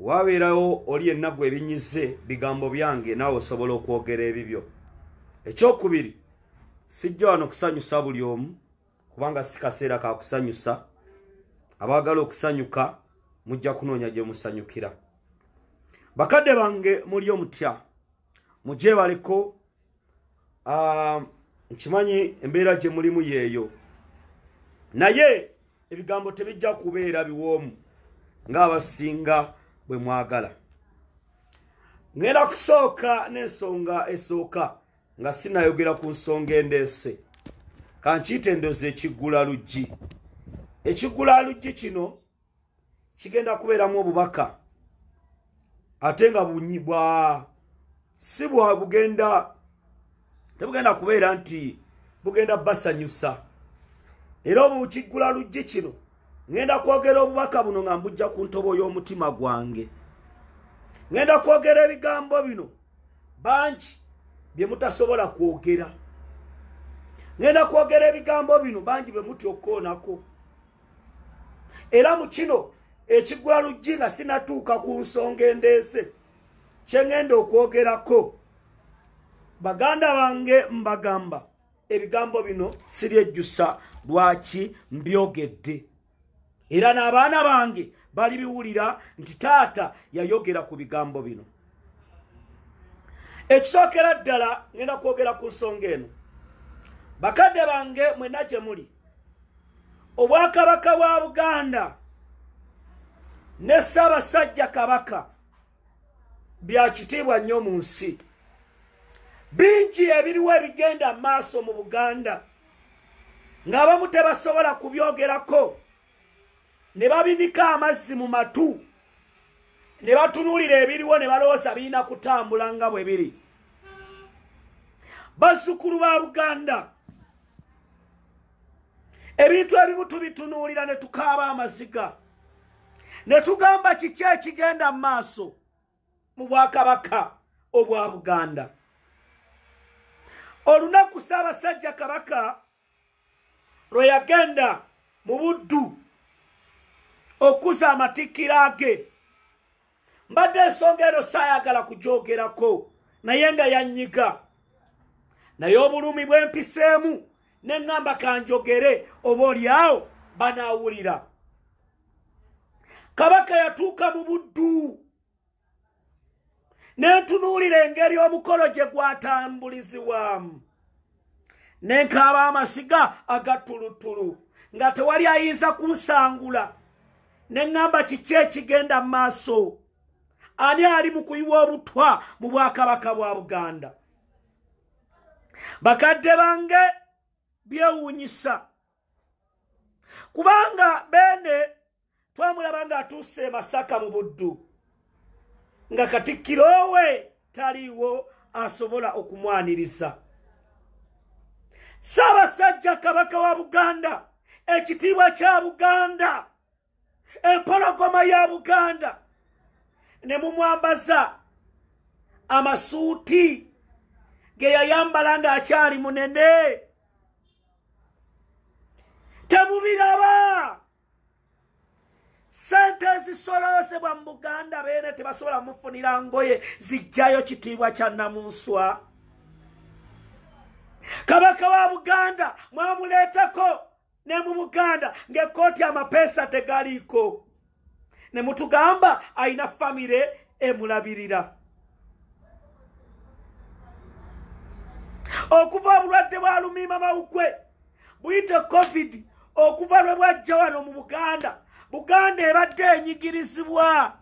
wabeerawo oli yenna gwe ebinyize bigambo byange naawe osobola okwogera ebibyo ekyokubiri sijja wano kusanyusa buli omu kubanga si kaseera ka kusanyusa abaagala okusanyuka mujja kunoonya gye musanyukira bakadde bange muli omutya mugyebaleko ah, nkimanyi embeera gye mulimu yeeyo naye ebigambo tebijja kubeera biwoomu ng'abasinga bwe mwagala ngenda kusooka n'ensonga esooka nga sinayogera ku nsonga endeese kankiyita endoozi ekiggula luggi ekiggula luggi kino kigenda kubeeramu obubaka ate nga bunyi bwa si bwa bugenda tebugenda kubeera nti bugenda basanyusa era obu kiggula luggi kino ŋenda kwogera obubaka buno nga mbujja ku ntobo y'omutima gwange ŋenda kwogera ebigambo bino bangi bye mutasobola kwogera ŋenda kwogera ebigambo bino bangi bwe mutya okukoonako era mu kino ekigwa luggi nga sinatuuka ku nsonga endeese kye ŋŋenda okwogerako baganda bange mbagamba ebigambo bino siryejjusa lwaki mbyogedde era n'abaana bange balibiwulira nti taata yayogera ku bigambo bino ekisookera ddala ŋŋenda kwogera ku nsonga eno bakadde bange mwena gye muli obwakabaka bwa buganda ne ssaabasajja kabaka bya kitiibwa nnyo mu nsi bingi ebiriwo ebigenda mu maaso mu buganda ng'abamu tebasobola kubyogerako ne babinika amazzi mu matu ne batunuulira ebiriwo ne balowooza birina kutambula nga bwe biri bazzukulu ba buganda ebintu ebimu tubitunuulira ne tukaaba amaziga ne tugamba kiki ekigenda mu maaso mu bwakabaka obwa buganda olunaku ssaabasajja kabaka lwe yagenda mu buddu okuza amatikkira ge mbadde ensonga eno saayagala kugyogerako naye nga yanyiga naye obulumi bwempiseemu ne ŋŋamba kanjogere oba olyawo banaawulira kabaka yatuuka mu buddu ne ntunuulira engeri omukolo gye gwatambulizibwamu nenkaaba amasiga agattuluttulu nga tewali ayinza kunsangula ne ŋŋamba kiki ekigenda mu maaso ani ali mu kuyiwa obutwa mu bwakabaka bwa buganda bakadde bange byewuunyisa kubanga beene twamulaba ng'atuuse e masaka mu buddu nga katikkiro we taliiwo asobola okumwaniriza ssaabasajja kabaka wa buganda ekitiibwa kya buganda empologoma ya buganda ne mumwambaza amasuuti ge yayambala ng'akyali munene temubiraba sente ezisoloozebwa mu buganda beene tebasobola mufunira ngoye zijjayo kitiibwa kya namunswa kabaka wa buganda mwamuleetako ne mu buganda ng'ekkooti amapeesa tegaliiko ne mutugamba alina famire emulabirira okuva obulwadde bwa lumiima mawukwe buyite covid okuva lwe bwajja wano mu buganda buganda ebadde enyigirizibwa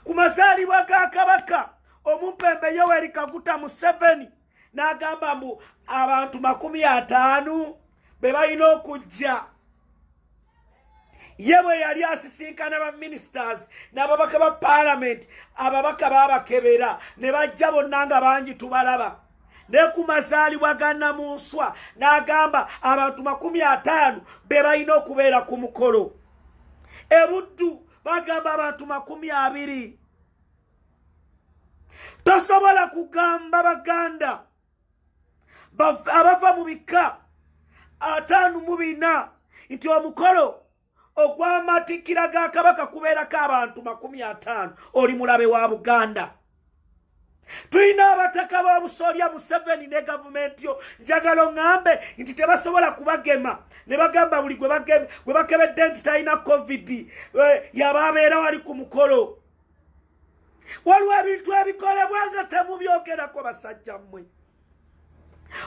ku mazaalibwa ga kabaka omumpembe yoweri kaguta museveni n'agamba mbu abantu makumi ataano be balina okujja ye bwe yali asisinkana ba ministers n'ababaka ba palamenti ababaka babakebera ne bajja bonna nga bangi tubalaba ne ku mazaalibwa ga namunswa n'agamba abantu makumi ataano be balina okubeera ku mukolo ebuddu bagamba abantu makumi abiri tosobola kugamba baganda abava mu bikka ataano mu bina nti omukolo ogw'amatikkira ga kabaka kubeerako abantu makumi ataano oli mulabe wa buganda tulina abataka b'obusolya museveni ne gavumenti yo njagala oŋambe nti tebasobola kubagema ne bagamba buli gwe bakebedde nti talina covid eh, yaba abeera wali ku mukolo waliwo ebintu ebikolebwa nga temubyogerako basajja mmwe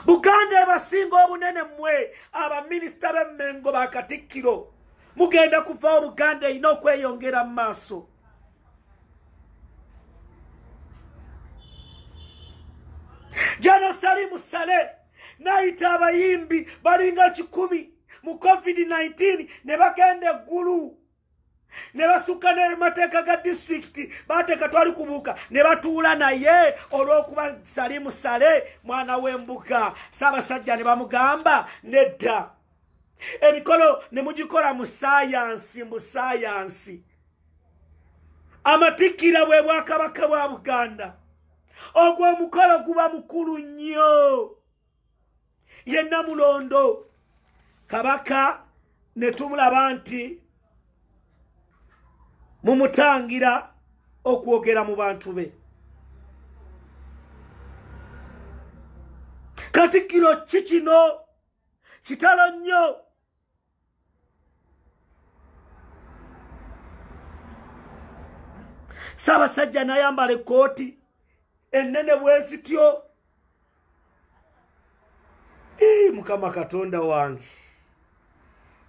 buganda ebasinga obunene mmwe abaminisita b'emmengo bakatikkiro mugenda kuvawo buganda erina okweyongera mu maaso jana salimu sale nayita abayimbi balinga kikumi mu covid-19 ne bagenda eggulu ne basukka nemateeka ga disitulikiti bateeka twali kubuuka ne batuula naye olw'okuba sali musale mwana w'embuga saabasajja ne bamugamba nedda emikolo ne mugikola mu sayansi mu sayansi amatikkira bwe bwakabaka bwa buganda ogwo omukolo guba mukulu nnyo ye namulondo kabaka ne tumulaba nti mumutangira okwogera mu bantu be katikkiro ki kino kitalo nnyo ssaabasajja nayambala ekkooti ennene bwezityo mukama katonda wange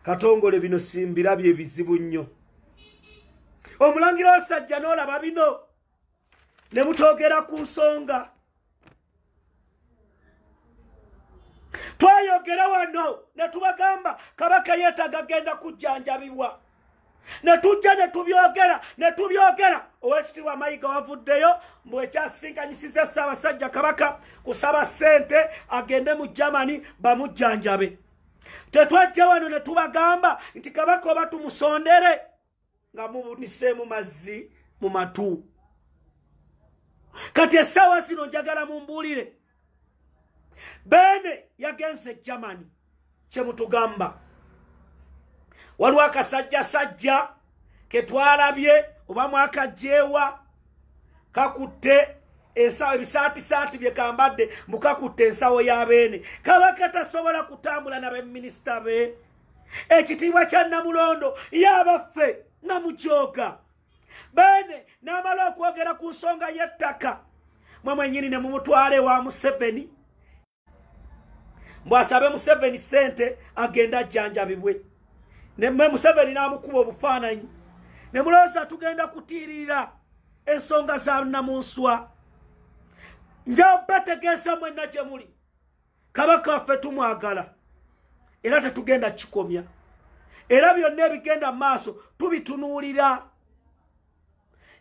katongole bino simbirabye ebizibu nnyo omulangira wasajja n'olaba bino ne mutogera ku nsonga twayogera wano ne tubagamba kabaka yeetaga genda kujjanjabibwa ne tujja ne tubyogera ne tubyogera owekitiibwa mayiga wavuddeyo mbu ekyasisinkanyisiza ssaabasajja kabaka kusaba ssente agende mu germany bamujjanjabe tetwajja wano ne tubagamba nti kabaka oba tumusondere nga mubuniseemu mazzi mu matu kati essaawa zino njagala mumbuulire beene yagenze e germany kye mutugamba waliwo akasajjasajja ke twalabye oba mwakajjeewa kakutte ensawo ebisaatisaati bye kambadde mbukakutte ensawo ya beene kaba katasobola kutambula nabeminisita be ekitiibwa kya namulondo yabaffe nga mukyoka bene n'amala okwogera ku nsonga y'ettaka mwe mwenyini ne mumutwale wa museveni mbwasabe museveni sente agenda ajjanjabibwe neme museveni n'amukuba obufaananyi ne mulowooza tugenda kutiirira ensonga za namunswa njabategeesa mwenna gye muli kabaka waffe tumwagala era tetugenda kikomya era byonna ebigenda mu maaso tubitunuulira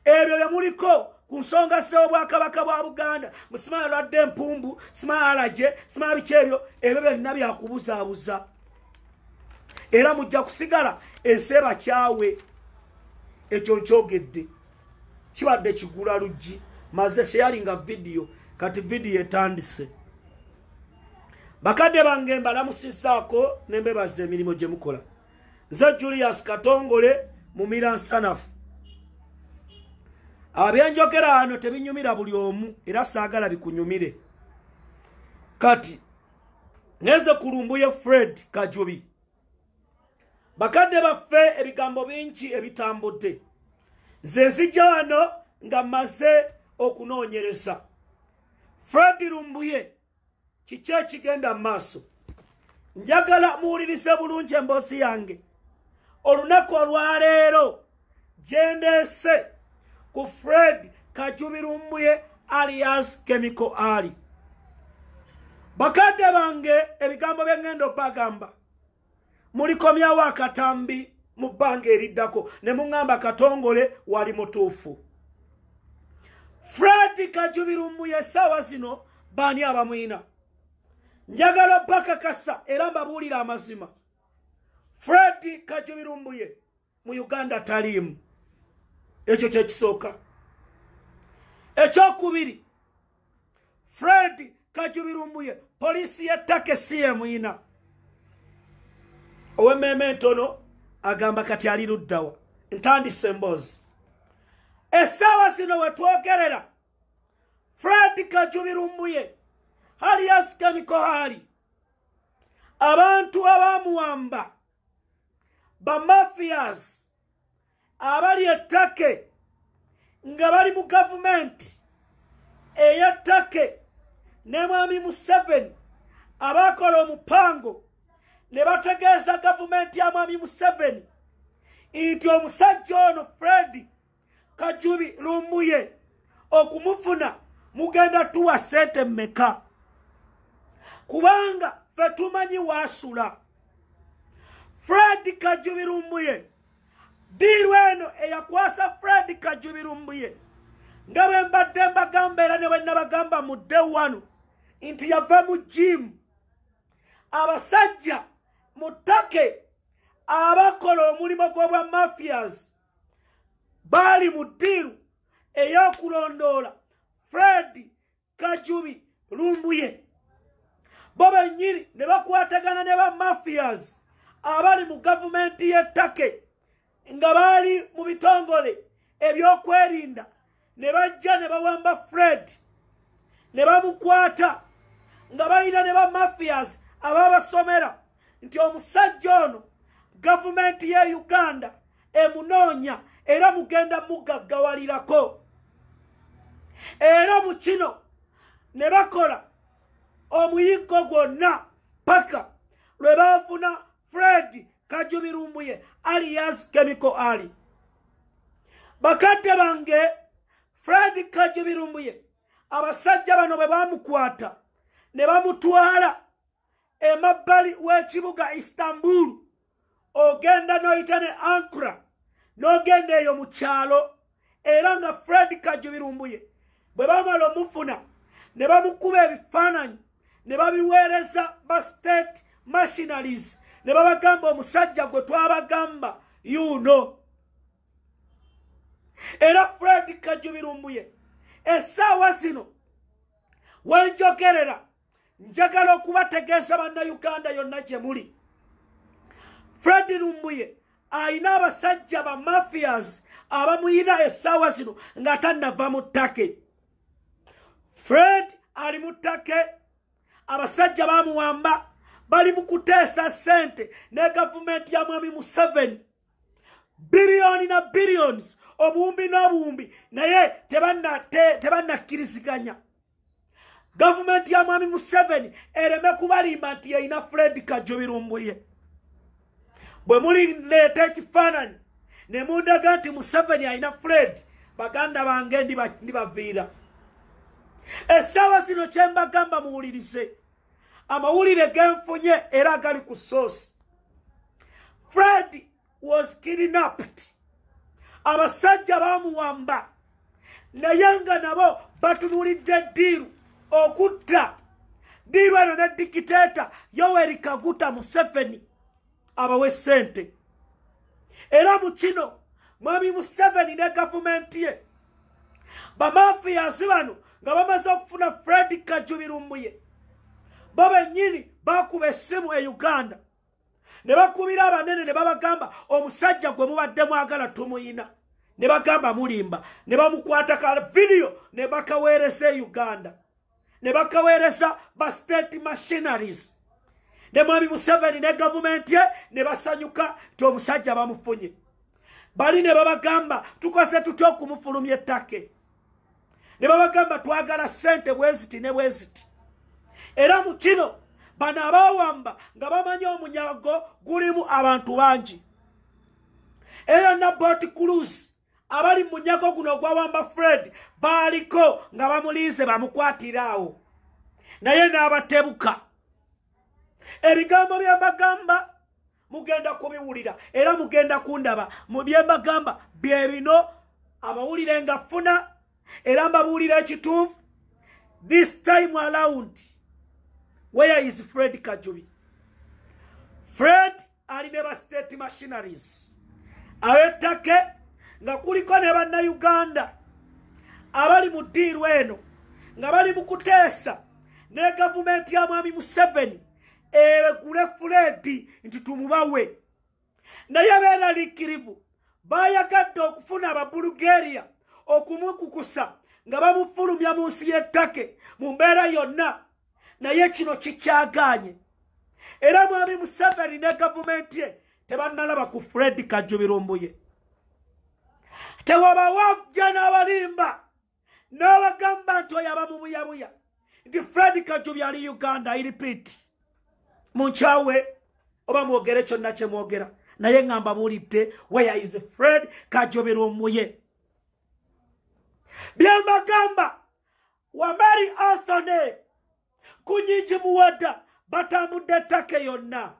ebyo bye muliko ku nsonga z'obwakabaka bwa buganda musimaa lwadde empumbu simaa alagye simaa biki ebyo ebyo byonna byakubuzaabuza era mujja kusigala ensi ebakyawe ekyo nkyogedde kibadde kigula luggi maze sheyalinga vidiyo kati vidiyo etandise bakadde bange mbalamusizaako nembebaza emirimu gye mukola nze julius katongole mumira nsanafu abyenjogera ano tebinyumira buli omu era saagala bikunyumire kati ngenze kulumbuye fred kajubi bakadde baffe ebigambo bingi ebitambudde nze nzijja wano nga mmaze okunoonyereza fred lumbuye kiki ekigenda mu maaso njagala muwulirize bulungi emboozi yange olunaku olwaleero gyendeese ku fred kajubirumbuye alias kemiko ali bakadde bange ebigambo byengenda obagamba mulikomyawo akatambi mu bbanga eriddako ne muŋŋamba katongole wali mutuufu fred kajubirumbuye essaawa zino baani abamwina njagala bakakasa era mbabuulira amazima fred kajubirumbuye mu uganda taliimu ekyo kyekisooka ekyokubiri fred kajubirumbuye poliisi yettaka esiyemuyina owemmeeme entono agamba kati ali luddawa ntandise emboozi essaawa zino wetwogerera fred kajubirumbuye hali yasikamikohaali abantu abamuwamba bamafias abali ettake nga bali mu gavumenti eyettake ne mwami museveni abaakola omupango ne bategeeza gavumenti ya mwami museveni nti omusajja ono fredi kajubi lumbuye okumufuna mugenda tuwa sente meka kubanga fe tumanyi wasula fred kajubi lumbuye diiru eno eyakwasa fred kajubi lumbuye nga bwe mbadde mbagamba era ne bwe nabagamba mu dde wano nti yava mu jimu abasajja mu take abakola omulimu gw'obwa mafias baali mu ddiiru ey'okulondoola fred kajubi lumbuye bo bennyini ne bakwatagana ne ba mafias abali mu gavumenti y'ettake nga baali mu bitongole ebyokwerinda ne bajja ne bawamba fred ne bamukwata nga balina ne bamafias ababasomera nti omusajja ono gavumenti ye uganda emunoonya era mugenda mugaggawalirako era mu kino ne bakola omuyiggo gwonna paka lwe baafuna fred kajubi lumbuye alias kemiko ali bakadde bange fred kajubi lumbuye abasajja bano bwe bamukwata ne bamutwala emabbali w'ekibuga istanbul ogenda n'oyita ne ankra n'ogenda eyo mu kyalo era nga fred kajjo birumbuye bwe bamala omufuna ne bamukuba ebifaananyi ne babiweereza ba state machinaries ne babagamba omusajja gwe twabagamba yuno era fred kajjo birumbuye essaawa zino wenjogerera njagala okubategeeza bannayuganda yonna gye muli fred lumbuye alina abasajja ba mafias abamuyina essaawa zino nga tannava mu ttake fred ali mu ttake abasajja bamuwamba bali mu kuteesa ssente ne gavumenti ya mwami museveni biliyoni na biliyoni obuwumbi n'obuwumbi naye tebannakkiriziganya te, gavumenti ya mwami museveni ereme kubalimba nti yeyina fred kajjo birumbuye bwe mulileeta ekifaananyi ne mundaga nti museveni alina fred baganda bange ndibaviira essaawa zino kyembagamba muwulirize amawulire genfunye era gali ku source fred was kidnapped abasajja bamuwamba naye nga nabo batunulidde diiru okutta diiru eno ne dikiteeta yoweri kaguta museveni abawe sente era mu kino mwami museveni ne gavumenti ye bamafiyazi bano nga bamaze okufuna fred kajubirumbuye bo bennyini bakuba essimu e uganda ne bakubira abanene ne babagamba omusajja gwe mubadde mwagala tumuyina ne bagamba mulimba ne bamukwata ka vidiyo ne bakaweereza e uganda ne bakaweereza ba state machineries ne mwami museveni ne gavumenti ye ne basanyuka nti omusajja bamufunye bali ne babagamba tukoze tutya okumufulumya ettake ne babagamba twagala ssente bweziti ne bweziti era mu kino bano abawamba nga bamanyi omunyago gulimu abantu bangi eyo nabooti cruise abali mu munyago guno ogwawamba fred baaliko nga bamulinze bamukwatira awo naye n'abatebuka ebigambo byembagamba mugenda kubiwulira era mugenda kundaba mu byembagamba bye bino amawulire nga funa era mbabuulira ekituufu this time around where is fred kajubi fred ali ne ba state machineries abettake nga kuliko ne bannayuganda abali mu ddiiru eno nga bali mu kuteesa ne gavumenti ya mwami museveni eregule fuleedi nti tumubawe naye beeraliikirivu bayagadde okufuna ababulugeriya okumukukusa nga bamufulumya mu nsi y'ettake mu mbeera yonna naye kino kikyagaanye era mwami museveni ne gavumenti ye tebannalaba ku fred kajubirumbuye tewabawavja n'abalimba n'abagamba nti oyo aba mubuyabuya nti fred kajubi ali uganda iripit mu nkyawe oba mwogere kyonna kye mwogera naye nga mbabuulidde where is fred kajubirumbuye byembagamba wamari anthony kunyingi muwada batambudde ettaka yonna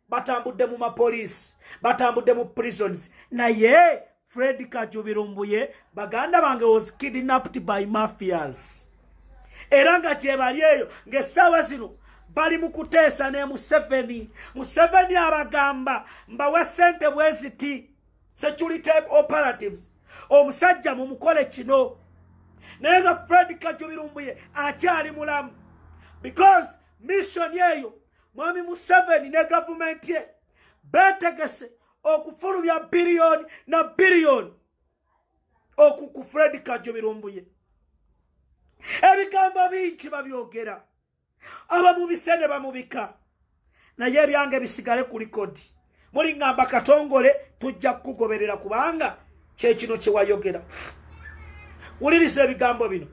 batambudde mu mapoliisi batambudde mu prisons naye fred kajubirumbuye baganda bange was kidnapped by mafias era nga gyebali eyo ng'essaawa zino bali mu kuteesa ne museveni museveni abagamba mbawe ssente bweziti security operatives omusajja mumukole kino naye nga fred kajubirumbuye akyali mulamu because mission eyo mwami museveni ne gavumenti ye betegese okufulumya biliyoni na biliyoni oku ku fred kajubirumbuye ebigambo bingi babyogera abamubise ne bamubika naye ebyange bisigale ku likodi muliŋŋamba katongole tujja kukugoberera kubanga kyekino kye wayogera wuliriza ebigambo bino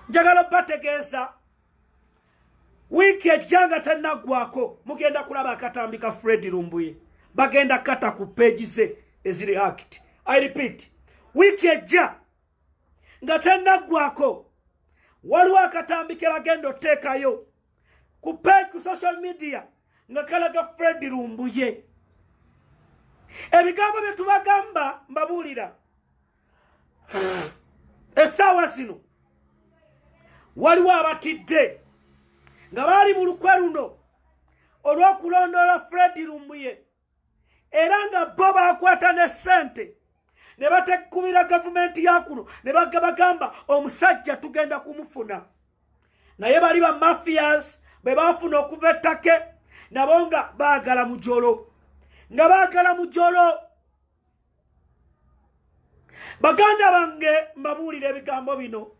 njagala obategeeza wiiki ejja nga tannaggwako mugenda kulaba akatambi ka fred lumbuye bagenda kata ku peegi ze eziri act i repeat wiiki ejja nga tennaggwako waliwo akatambi ke bagenda oteekayo ku page ku social media nga kalaga fred lumbuye ebigambo bye tubagamba mbabuulira essaawa zino waliwo abatidde nga baali mu lukwe luno olw'okulondoola fred lumbuye era nga bo bakwata ne ssente ne batekubira gavumenti ya kuno ne bagabagamba omusajja tugenda kumufuna naye bali ba mafias bwe bafuna okuva ettake nabo nga baagala mujolo nga baagala mujolo baganda bange mbabuulira ebigambo bino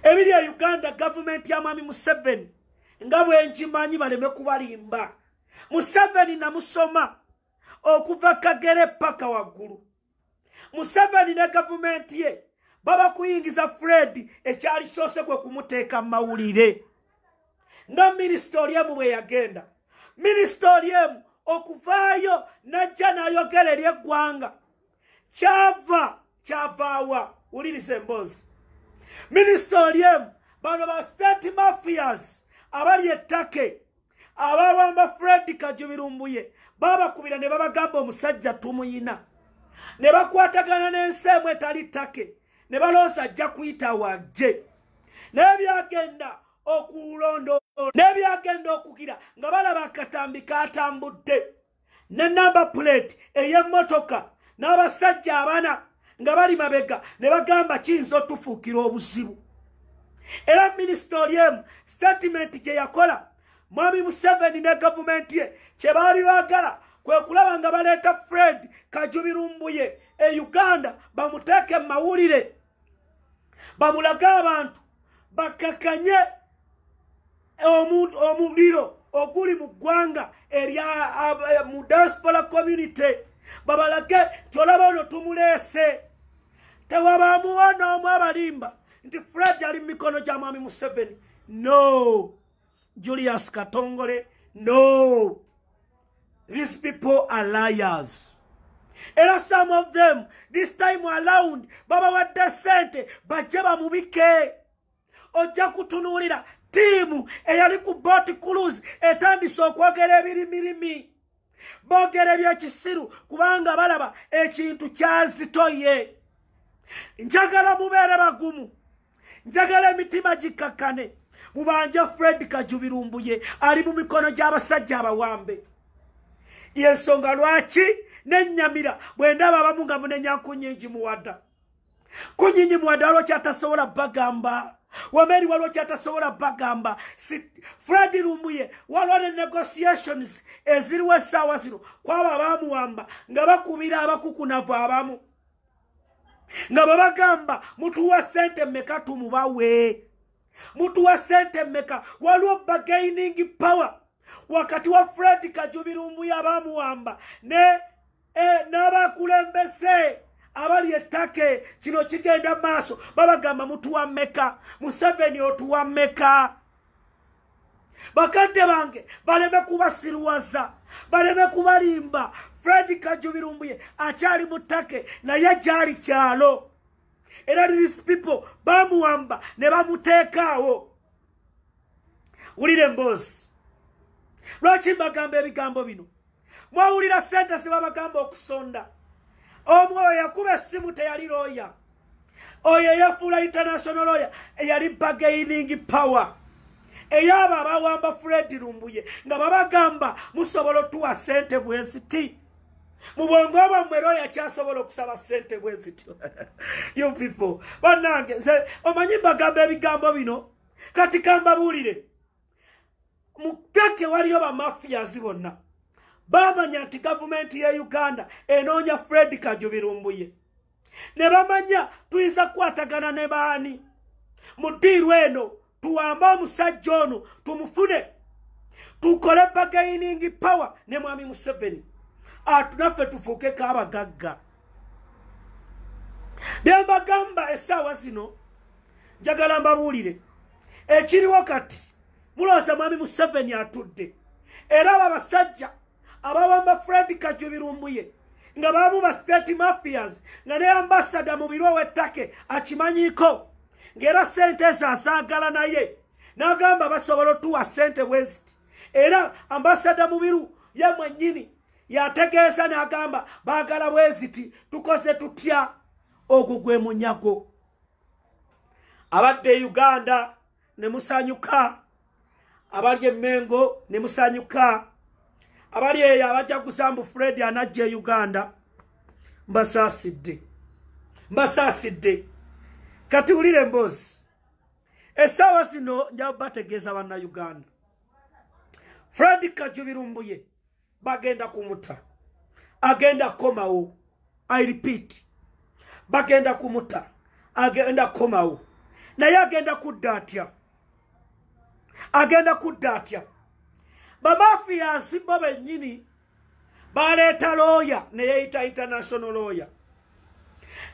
ebiri e uganda gavumenti ya mwami museveni nga bwenkimanyi baleme kubalimba museveni namusoma okuva kagere paka waggulu museveni ne gavumenti ye baba kuyingiza fred ekyalisoose kwe kumuteeka mawulire nga minisita oli emu bwe yagenda minisita oli emu okuvaayo n'ajja n'ayogera eri eggwanga kyava kyavaawa wuliriza emboozi minisita oli emu bano ba state mafias abali ettake abawamba fred kajubirumbuye babakubira ne babagamba omusajja tumuyina ne bakwatagana n'ensi emu etali ttake ne balooza ajja kuyita wajje naye byagenda okulonda n'ebyagenda okugira nga balaba akatambi katambudde ne namba puleeti ey'emmotoka n'abasajja abana nga bali mabega ne bagamba kiyinza otufuukira obuzibu era minisita oli emu sitatimenti gye yakola mwami museveni ne gavumenti ye kye baali baagala kwe kulaba nga baleeta fred kajubirumbuye e uganda bamuteeke mu mawulire bamulage abantu bakakanye omuliro oguli mu ggwanga erya mu diaspora community babalage nti olaba ono tumuleese tewabaamuwo n'omu abalimba nti fred ali mu mikono gya mwami museveni no julius katongole no these people are liars era some of them this time around babawadde sente bajje bamubike ojja kutunuulira tiimu eyali ku bot cruz etandise okwogera ebirimirimi boogera ebyekisiru kubanga balaba ekintu kyazitoye njagala mubeere bagumu njagala emitima gikkakkane mubanja fred kajubirumbuye ali mu mikono gy'abasajja abawambe yensonga lwaki nenyamira bwe ndaba abamu nga munenya nkunyingi muwada kunyingi muwada waliwo kyatasobola bagamba wameri waliwo kyatasobola bagamba fred lumbuye waliwo ne negotiations eziriwo essaawa zino kwabo abamuwamba nga bakubira abakukunavu abamu nga babagamba mutuwa sente meka tumubawe mutuwa sente meka waliwo bagaining power wakati wa fred kajubirumbu yabamuwamba ne e, n'abakulembese abali ettake kino kigenda maaso babagamba mutuwa meka museveni otuwa meka bakadde bange baleme kubasiruwaza baleme kubalimba fred kajubirumbuye akyali mu take naye gyali kyalo era these people bamuwamba ne bamuteekaawo wulira emboozi lwaki mbagamba ebigambo bino mwawulira sente zebabagamba okusonda omu oyo yakuba essimu teyali looya oyo eyafuula international looya eyali bagaining power eyaabo abawamba fred lumbuye nga babagamba musobola otuwa sente bweziti mu bwongo bwammwe looya kyasobola okusaba sente bwezityo you people banange omanyi mbagamba ebigambo bino kati kambabuulire mu take waliyo bamafiyazi bonna bamanya nti gavumenti ya uganda enoonya fred kajubirumbuye ne bamanya tuyinza kukwatagana ne baani mu diiru eno tuwambe omusajja ono tumufune tukole bagainingi power ne mwami museveni atunaffe tufuukeko abagagga byembagamba esaawa zino njagala mbabuulire ekiriwo kati muloosa mwami museveni atudde era abo abasajja abawamba fred kajubirumbuye nga baamu ba state mafias nga ne ambasada mu biro w'ettake akimanyiiko ng'era ssente ezo azaagala naye n'agamba basobola otuwa ssente bweziti era ambasada mu biru ye mwennyini yategeeza n'agamba baagala bweziti tukoze tutya ogwo gwe munyago abadde e uganda ne musanyuka abali emengo ne musanyuka abali eyo abajja kusambu fred anajja e uganda mbasaasidde mbasaasidde kati wulire emboozi essaawa zino njabategeeza banna uganda fred kajubirumbuye bagenda kumuta agenda komawo i repeat bagenda kumuta agenda komawo naye agenda kudda atya agenda kudda atya bamafiyansi bo bennyini baleeta looya neyeyita international looya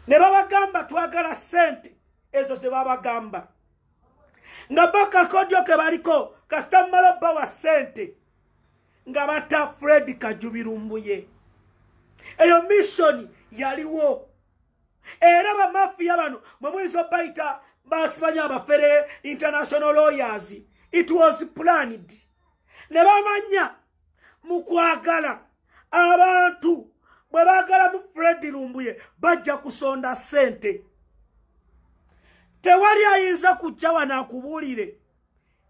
ne babagamba twagala sente ezo ze babagamba nga bakakodyo ke baliko kasita mumala bawa sente nga bata fred kajubirumbuye eyo missioni yaliwo era bamafiya bano mwemuyinza obayita basibanya abafere international lawyers it was planned ne bamanya mu kwagala abantu bwe baagala mu fred lumbuye bajja kusonda sente tewali ayinza kujja wanakubuulire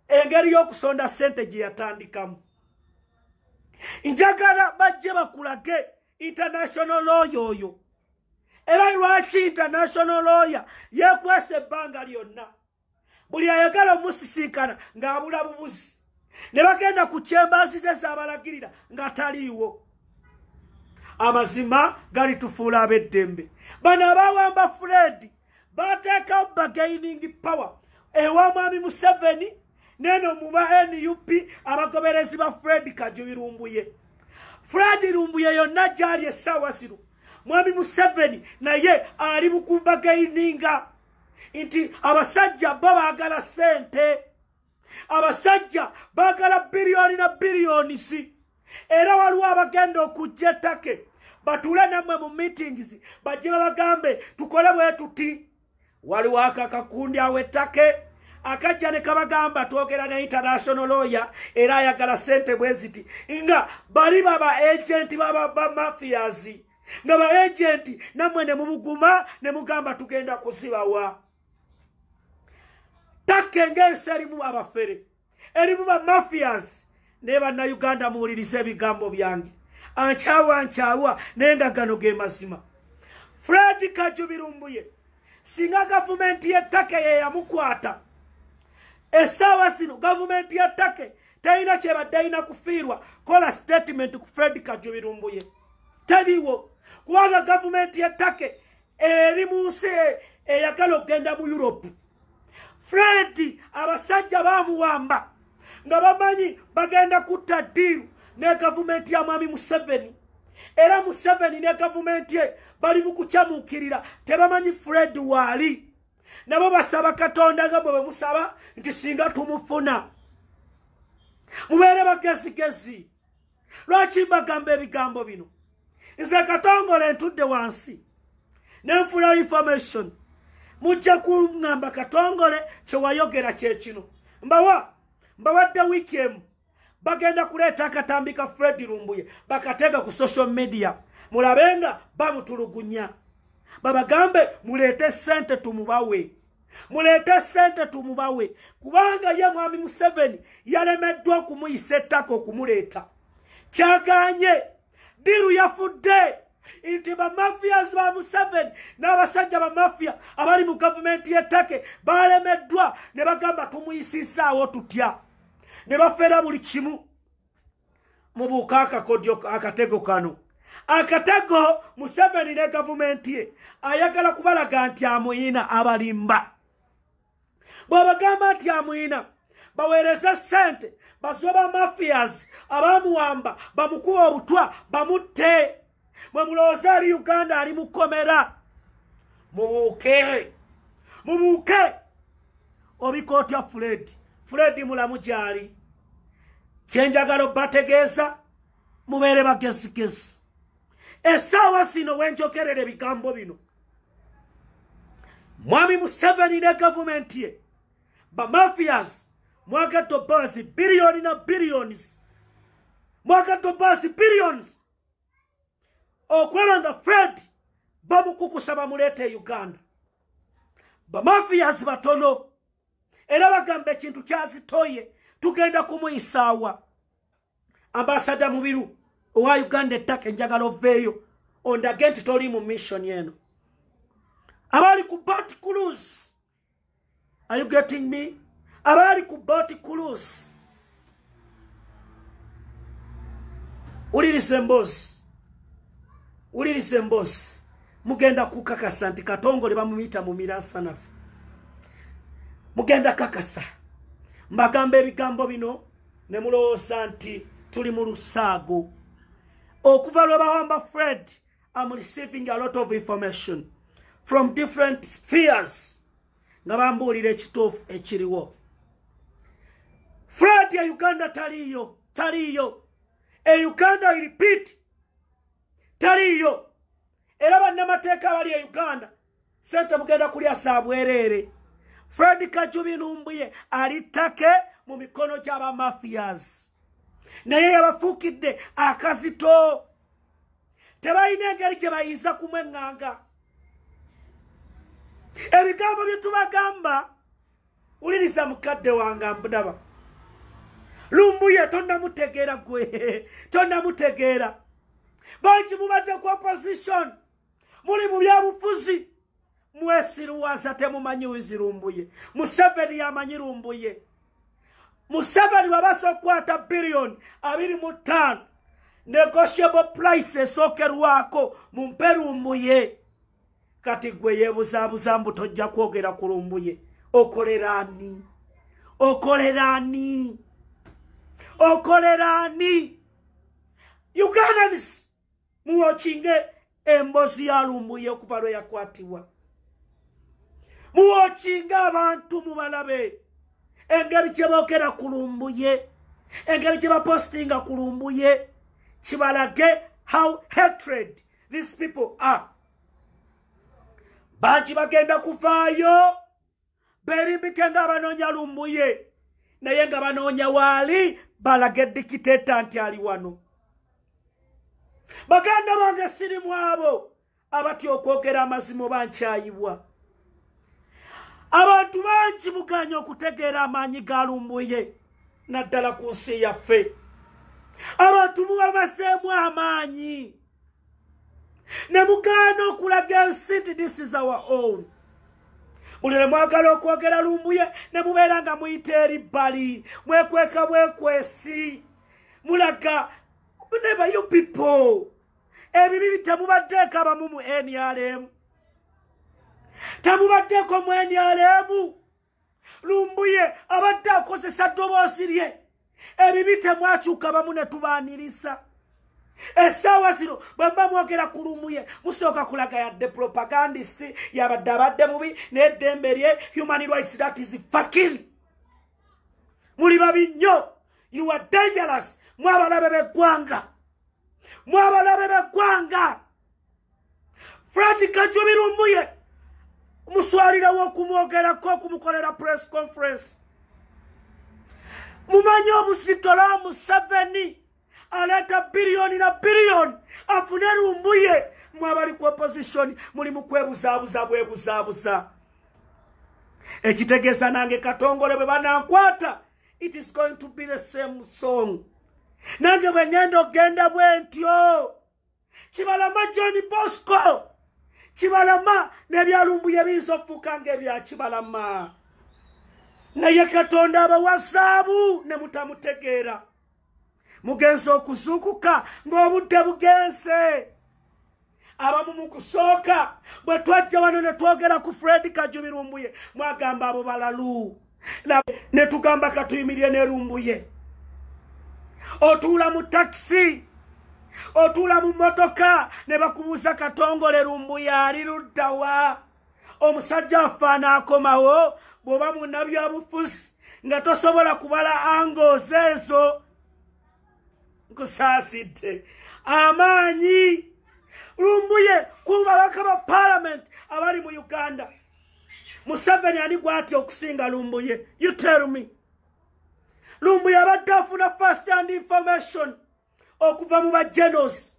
engeri y'okusonda sente gye yatandikamu njagala bajje bakulage international lawyer oyo era lwaki international lawyer yekwesa ebbanga lyonna buli ayagala omusisinkana ng'abula bubuzi ne bagenda ku kyembazi ze zabalagirira nga taliiwo amazima galitufuula ab'eddembe bano abawamba furedi bateekawo bagaining power ewa mwami museveni neno muba nup abagoberezi ba fred kajubi lumbuye fred lumbuye yonna gyali essaawa zino mwami museveni naye ali mukubagaininga nti abasajja bo baagala sente abasajja bagala biliyoni na biliyoni si era waliwo abagenda okujja ettake batuule nammwe mu meetings bajje babagambe tukole bwe tuti waliwo akakakundi awo ettake akajja ne kabagamba twogera ne international lawyer era ayagala sente bwe ziti nga bali baba agenti babamafiyazi nga ba agenti nammwe ne mubuguma ne mugamba tugenda kuzibawa takka engensi erimu abafere erimu bamafias naye bannauganda muwuliriza ebigambo byange ankyawa ankyawa naye nga gano ge mazima fred kajubirumbuye singa gavumenti y'ettaka yeyamukwata essaawa zino gavumenti y'ettaka talina kyebadde alina kufiirwa kola sitatimenti ku fred kajubirumbuye taliwo kubanga gavumenti y'ettaka eri mu nsi eyagala okugenda mu europe fred abasajja bamuwamba nga bamanyi bagenda kutta diiru ne gavumenti ya mwami museveni era museveni ne gavumenti ye bali mu kukyamukirira tebamanyi fred waali nabo basaba katonda nga bwe bemusaba nti singa tumufuna mubeere bagezigezi lwaki mbagamba ebigambo bino nze katongole ntudde wansi nenfula information mujja kuŋamba katongole kyewayogera kyekino mbawa mbawadde wiiki emu bagenda kuleeta akatambi ka fred lumbuye bakateeka ku social media mulabe nga bamutulugunya babagambe muleete sente tumubawe muleete sente tumubawe kubanga ye mwami museveni yalemeddwa okumuyisa ettaka okumuleeta kyaganye diru yafudde nti bamafias ba museveni n'abasajja bamafiya abali mu gavumenti y'ettake balemeddwa ne bagamba tumuyisisaawo tutya ne bafera buli kimu mubuuka akakodyo akatego kano akatego museveni ne gavumenti ye ayagala kubalaga nti amuyina abalimba bw'abagamba nti amuyina baweereze ssente basibe bamafias abamuwamba bamukuba obutwa bamutte mwe mulowooza ali uganda ali mukomera mubuuke mubuuke obika otya fred fred mulamu gyali kyenjagala obategeeza mubeere bagezigezi esaawa sino wenjogerera ebigambo bino mwami museveni ne gavumenti ye bamafias mwagadde obaasi biliyoni na biliyoni mwagadde obaasi biliyoni okulaba nga fred bamukukusa bamuleeta e uganda bamafiyazi batono era bagamba ekintu kyazitoye tugenda kumuyisaawa ambasada mubiru owa uganda ettaka enjagala oveeyo ondage nti toli mu missioni eno abaali ku bat cruise are you getting me abaali ku boti kulus ulirisa emboosi ulirisa emboosi mugenda kukakasa nti katongole bamuyita mu mirasanafu mugenda kakasa mbagamba ebigambo bino ne mulowooza nti tuli mu lusaago okuva lwe bawamba fred I'm receiving a lot of information from different spheres nga bambuulira ekituufu ekiriwo fred ya uganda taliiyo taliiyo e uganda repeat taliiyo era bannamateeka abali e uganda sente mugenda kulya saa bwereere fred kajubi numbuye ali take mu mikono gy'abamafias naye yabafuukidde akazito tebalina engeri gye bayinza kumweŋŋanga ebigambo bye tubagamba wuliriza mukadde wange ambudaba lumbuye tonamutegeera gwe tonamutegeera bangi mubadde ku opposition muli mu byabufuzi mwesiruwaza temumanyi wizi lumbuye museveni yamanyi lumbuye museveni babasa okukwata biliyoni abiri mu ttaano negotiable price esookerwako mu mpe lumbuye kati gwe yebuzabuza mbu tojja kwogera ku lumbuye okolera ani okolera ani okolera ani ugandans muwokinge embozi ya lumbuye okuva lwe yakwatibwa muwokinge abantu mubalabe engeri gye boogera ku lumbuye engeri gye bapostinga ku lumbuye kibalage how hatred these people are bangi bagenda kuvaayo berimbike nga abanoonya lumbuye naye nga banoonya waali balage dikiteta nti ali wano baganda bange siri mu abo abatya okwogera amazima oba nkyayibwa abantu bangi muganya okutegeera amaanyi ga lumbuye naddala ku nsi yaffe abantu mubabazeemu amaanyi ne mugaana okulaga ensi nti this is our own buli lwe mwagala okwogera lumbuye ne mubeera nga muyita eri bbali mwekweka bwekwesi mulaga neba you people ebibi bitemubaddeeko abamu mu nrm temubaddeeko mu nrm lumbuye abadde akozesa ddoboosi lye ebibi temwakyuka bamu ne tubaanirisa essaawa zino bwe mba mwogera ku lumbuye musooka kulaga yadde propagandist yabadde abadde mubi n'eddembe lye human rights that is fakin muli babi nnyo you are dangerous mwabalabe b'eggwanga mwabalabe b'eggwanga frank kajubi lumbuye muswalirawo okumwogerako okumukolera press conference mumanyi obusitola museveni aleeta biriyoni na biriyoni afune lumbuye mwabali ku opposition muli mukwebuzaabuza bwebuzaabuza ekitegeeza nange katongole bwe banankwata it is going to be the same song nange bwe ngenda okugenda bwentyo kibalama john bosco kibalama nebyalumbuye biyinza okufuuka nga ebya kibalama naye katonda abawa zaabu ne mutamutegeera mugenzi okuzuukuka ng'obudde bugenze abamu mu kusooka bwe twajja wano ne twogera ku fred kajubirumbuye mwagamba abo balalu ne tugamba katuyimirire ne lumbuye otuula mu takisi otuula mu mmotoka ne bakubuuza katongole lumbuye ali luddawa omusajja affe anaakomawo bw'oba munabyabufuzi nga tosobola kubala angoozi ezo nkusaasidde amaanyi lumbuye ku babaka ba paalamenti abali mu uganda museveni ani gwatya okusinga lumbuye you tell me lumbuye abadde afuna first hand information okuva mu bagenos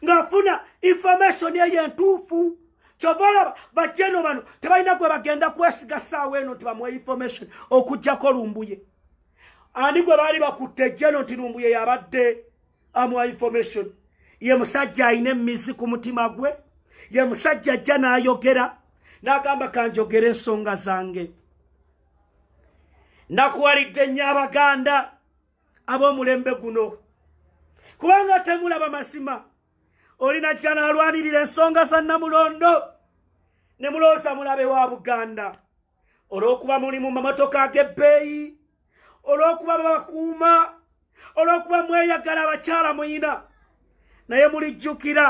ng'afuna information eyo entuufu kyova olaba bajeno bano tebalina gwe bagenda kwesiga saawa eno nti bamuwa information okujjako lumbuye ani gwe baali bakutte jeno nti lumbuye yabadde amuwa information ye musajja alina emizi ku mutima gwe ye musajja ajja n'ayogera n'agamba kanjogera ensonga zange nakuwalidde nnyo abaganda ab'omulembe guno kubanga temulaba mazima oli najja n'alwanirira ensonga za nnamulondo ne mulooza mulabe wa buganda olw'okuba muli mu mamotoka ag'ebbeeyi olw'okuba babakuuma olw'okuba mweyagala abakyala muyina naye mulijjukira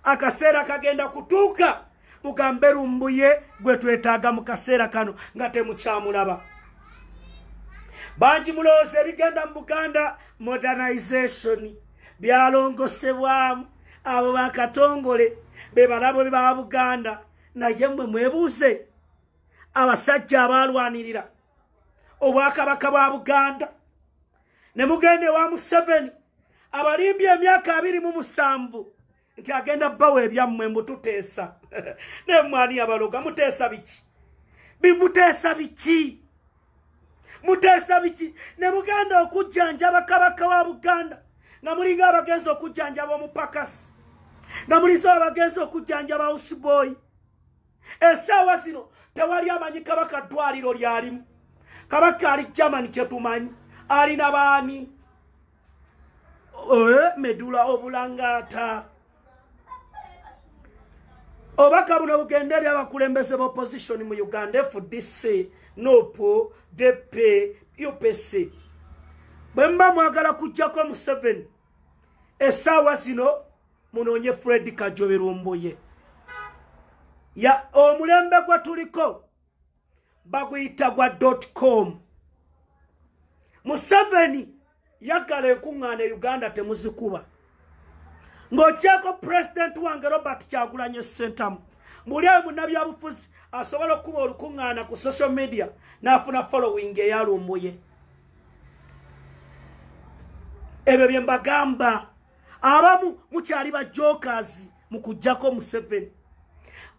akaseera kagenda kutuuka mugambe lumbuye gwe twetaaga mu kaseera kano nga temukyamulaba bangi mulowooza ebigenda mu buganda modernization byalongosebwamu abo bakatongole bebalabo ba buganda naye mwe mwebuuze abasajja abaalwanirira obwakabaka bwa buganda ne mugenda ewa museveni abalimbye emyaka abiri mu musanvu nti agenda bawa ebyammwe mbututeesa naye mwani yabaloga muteesa biki bimuteesa biki muteesa biki ne mugenda okujjanjaba kabaka wa buganda nga mulinga abagenzi okujjanjaba omupakasi nga mulinza abagenzi okujjanjaba usiboi esaawa zino tewali amanyi kabaka ddwaliro lyalimu kabaka ali germany kyetumanyi alina baani Eh, medula obulangata obaka buno bugenda eri abakulembeze bopposition mu uganda fdc nop dp upc bwemuba mwagala kujjako museven esaawa zino munoonye fred kajoberumbuye omulembe gwe tuliko baguyita gwa dotcom museveni yaggala enkuŋŋaana e uganda temuzikuba ng'okyeko pulezidenti wange robert kyagulanye sentamu muli ayo munnabyabufuzi asobola okukuba olukuŋŋaana ku social media n'afuna following eyalumbuye ebyo bye mbagamba abamu mukyali ba jokers mu kujjako museveni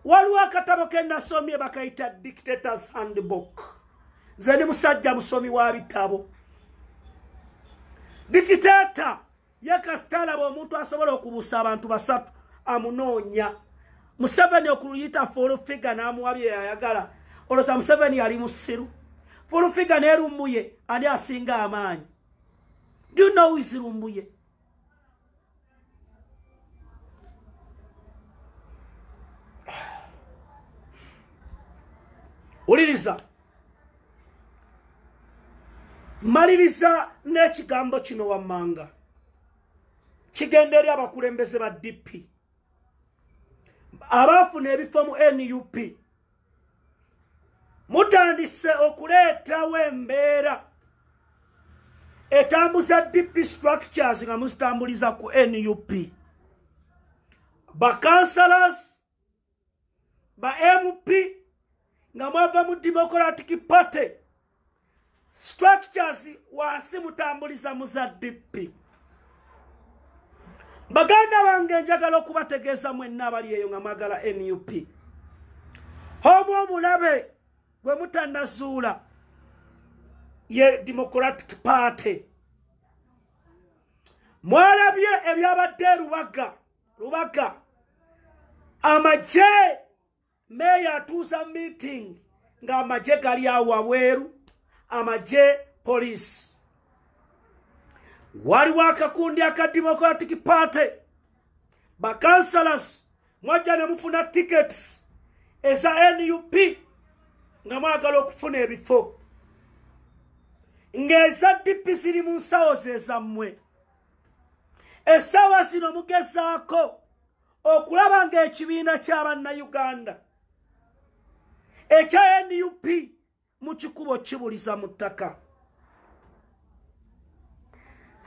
waliwo akatabo ke nasomye bakayita dictators handbook nze ni musajja musomi wa bitabo dikiteta ye kasita alaba omuntu asobola okubuusa abantu basatu amunoonya museveni okuluyita fulufiga n'amuwa bye yayagala olwoza museveni yali musiru fulufiga n'erumuye ani asinga amaanyi do you know is lumbuye wuliriza maliriza n'ekigambo kino wammanga kigenda eri abakulembeze ba dp abaafuna ebifo mu nup mutandise okuleetawo embeera etambuza dp structures nga muzitambuliza ku nup bakansalas ba mp nga mwava mu democratic party structures wansi mutambuliza mu za dippi baganda bange njagala okubategeeza mwenna abali eyo nga mwagala nup omu omulabe gwe mutanazuula ye democratic party mwalabye ebyabadde erubaga rubaga amagye meeya atuuza meeting ng'amagye gali awo wabweru amagye poliisi waliwo akakundi aka democratic party bakansalas mwajja ne mufuna tickets eza nup nga mwagala okufuna ebifo ng'eza dipi ziri mu nsawo zezammwe essaawa zino mugezaako okulaba ng'ekibiina ky'abannayuganda ekya nup mu kikubo kibuliza mu ttaka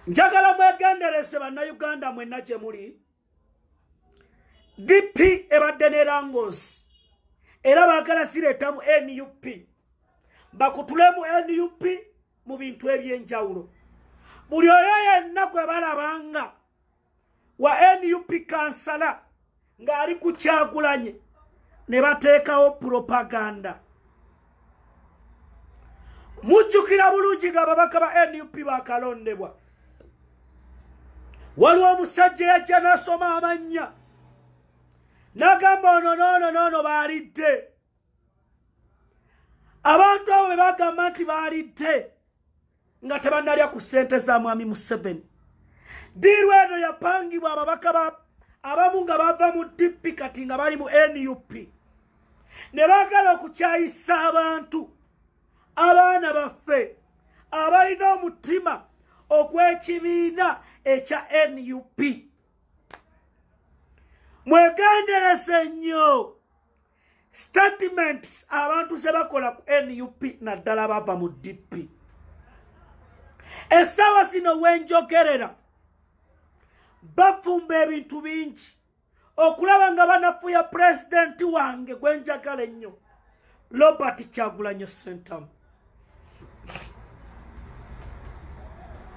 njagala mwegendereze bannayuganda mwenna gye muli dp ebadde ne langosi era baagala zireeta mu nup bakutule mu nup mu bintu eby'enjawulo buli oyo yenna gwe balabanga wa nup kansala ng'ali ku kyagulanye ne bateekawo propaganda mujjukira bulungi nga ababaka ba nup bakalondebwa waliwo omusajja yajja n'asoma amannya n'agamba ono noono noono baalidde abantu abo be bagamba nti baalidde nga tebanalya ku ssente za mwami museveni diiru eno yapangibwa ababaka ba abamu nga bava mu dp kati nga bali mu nup ne baagala okukyayisa abantu abaana baffe abalina omutima ogw'ekibiina ekya nup mwegendereze nnyo statements abantu zebakola ku nup naddala bava mu dp essaawa zino wenjogerera bafumba ebintu bingi okulaba nga banafuya pulezidenti wange gwenjagala ennyo robert kyagulanye sentamu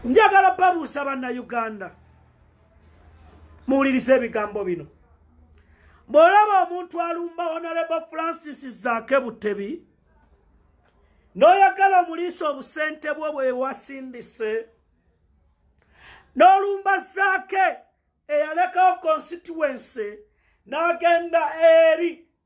njagala babuusa bannauganda muwulirize ebigambo bino bw'olaba omuntu alumba onalebo francis zaake butebi n'oyagala omuliisa obusente bwo bwe wasindise n'olumba zaake eyalekawo konsituwense n'agenda eri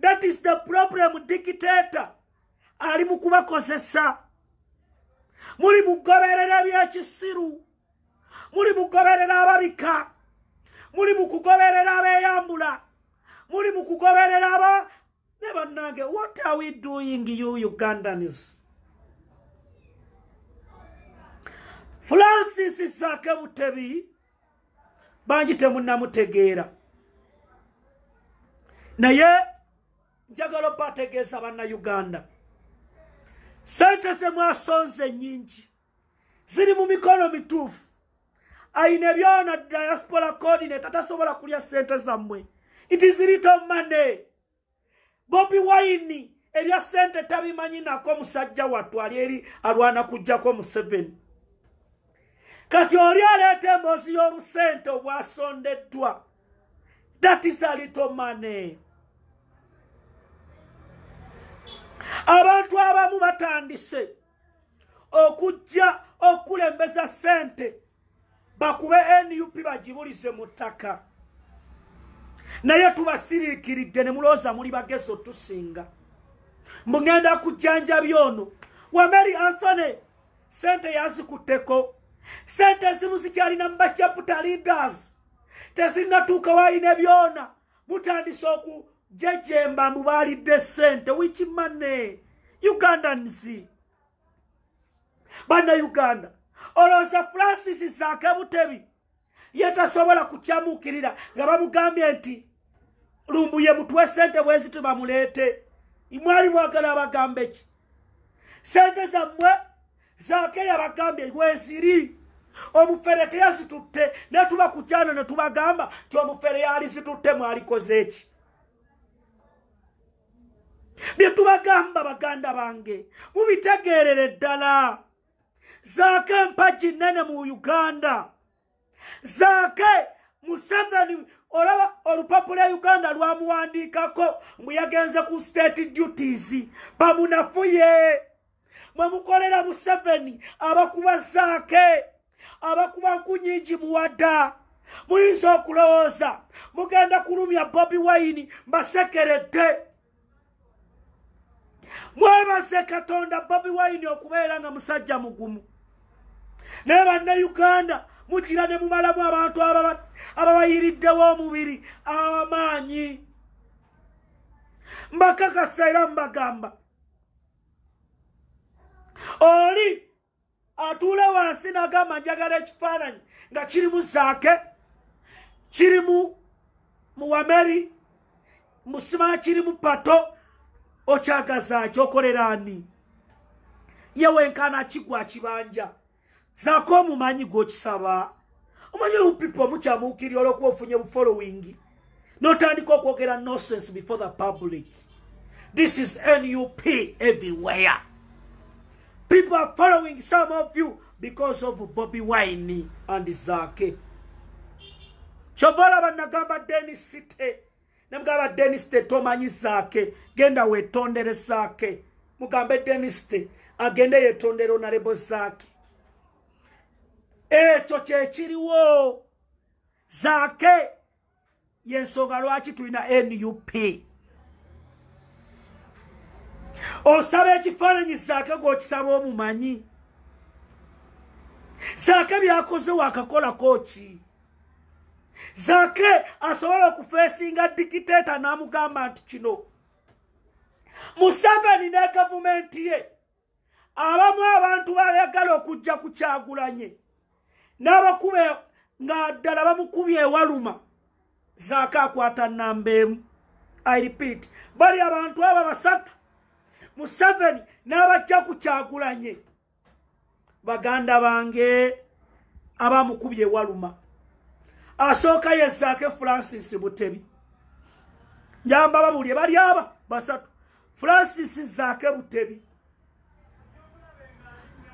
that is the problem dictator ali mu kubakozesa muli mugoberera byekisiru muli mugoberera ababika muli mukugoberera abeyambula muli mukugoberera aba ne bannange what are we doing you ugandans francis sake butebi bangi temunamutegeera naye njagala oba ategeesa bannauganda sente zemwasonze nyingi ziri mu mikono mituufu ayina ebyona diaspora coordinate atasobola kulya sente zammwe it is little money bobi wayini ebya sente tabimanyi nako musajja wattu ali eri alwana kujjako museveni kati oli aleeta emboozi y'obusente obwasondeddwa that is a little money abantu abamu batandise okujja okukulembeza sente bakube nup bagibulize mu ttaka naye tubasiriikiridde ne mulooza muli bagezi otusinga mbu ŋenda kujjanjabi ono wameri anthony sente yazikutteko sente ezimu zikyalina mu bacaputa leaders tezinnatuuka waalina byona mutandise okujejemba mbu baalidde sente wiki mane ugandans banna uganda olowooza francis zaake butebi ye tasobola kukyamuukirira nga bamugambye nti lumbuye mutwe sente bwezi tubamuleete mwali mwagala abagambe ki sente zammwe zaake yabagambye weziri omufere teyazitutte netuba ku kyana netubagamba ti omufere yali zitutte mwalikoze eki byetubagamba baganda bange mubitegeerere ddala zaake mpagi nene mu uganda zaake museveni olaba olupapula uganda lwamuwandiikako mbu yagenze ku state duties bamunafuye mwe mukolera museveni abakuba zaake abakuba nkunyingi muwada muyinza okulowooza mugenda kulumya bobi wayini mbasekeredde mwebaze katonda bobi wine okubeera nga musajja mugumu naye banna uganda mugira ne mumalamu abantu ababayiriddewo omubiri amaanyi mbakakasa era mbagamba oli atuule wansi nagamba njagala ekifaananyi nga kiri mu zaake kiri mu muwameri musima kiri mu pato okyagazaaki okolera ani ye wenkana kigwa kibanja zaako omumanyi gwokisaba omanyi olupipa omukyamuukirira olwokuba ofunye bufolowingi notandika okwogera nonsense before the public this is nup everywhere people are following some of you because of bobi wine and zake kyova olaba nagamba denis site nemugamba denis te tomanyi zake genda wetondere zake mugambe denis te agende yetondere onalebo zake ekyo kyekiriwo zaake yensonga lwaki tulina nup osaba ekifaananyi zaake gwokisaba omumanyi zaake byakoze wakakolako ki zake asobola okufeesinga dikiteeta n'amugamba nti kino museveni ne gavumenti ye abamu abantu bayagala okujja ku kyagulanye n'abakube nga ddala bamukubye ewaluma zaako akwata namba emu i repeat bali abantu abo basatu museveni n'abajja ku kyagulanye baganda bange abamukubye ewaluma asooka yezaake francis butebi njamba babulye bali aba basatu francis zaake butebi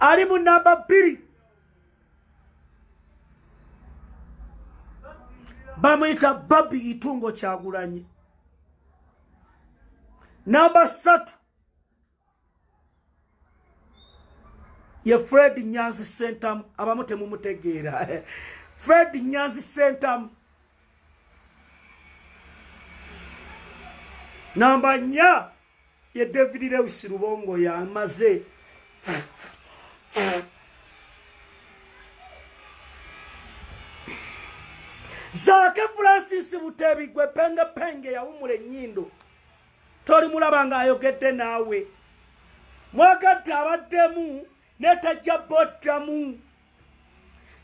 ali mu namba bbiri bamuyita babi itungo kyagulanyi namba ssatu ye fred nyanzi sentamu abamu temumutegeera fred nyanzi sentamu namba nya ye david lewis lubongo yamaze zaake francis butebi gwe penge penge yawumula enyindo tolimulaba ng'ayogedde naawe mwagatte abaddemu netajja boddamu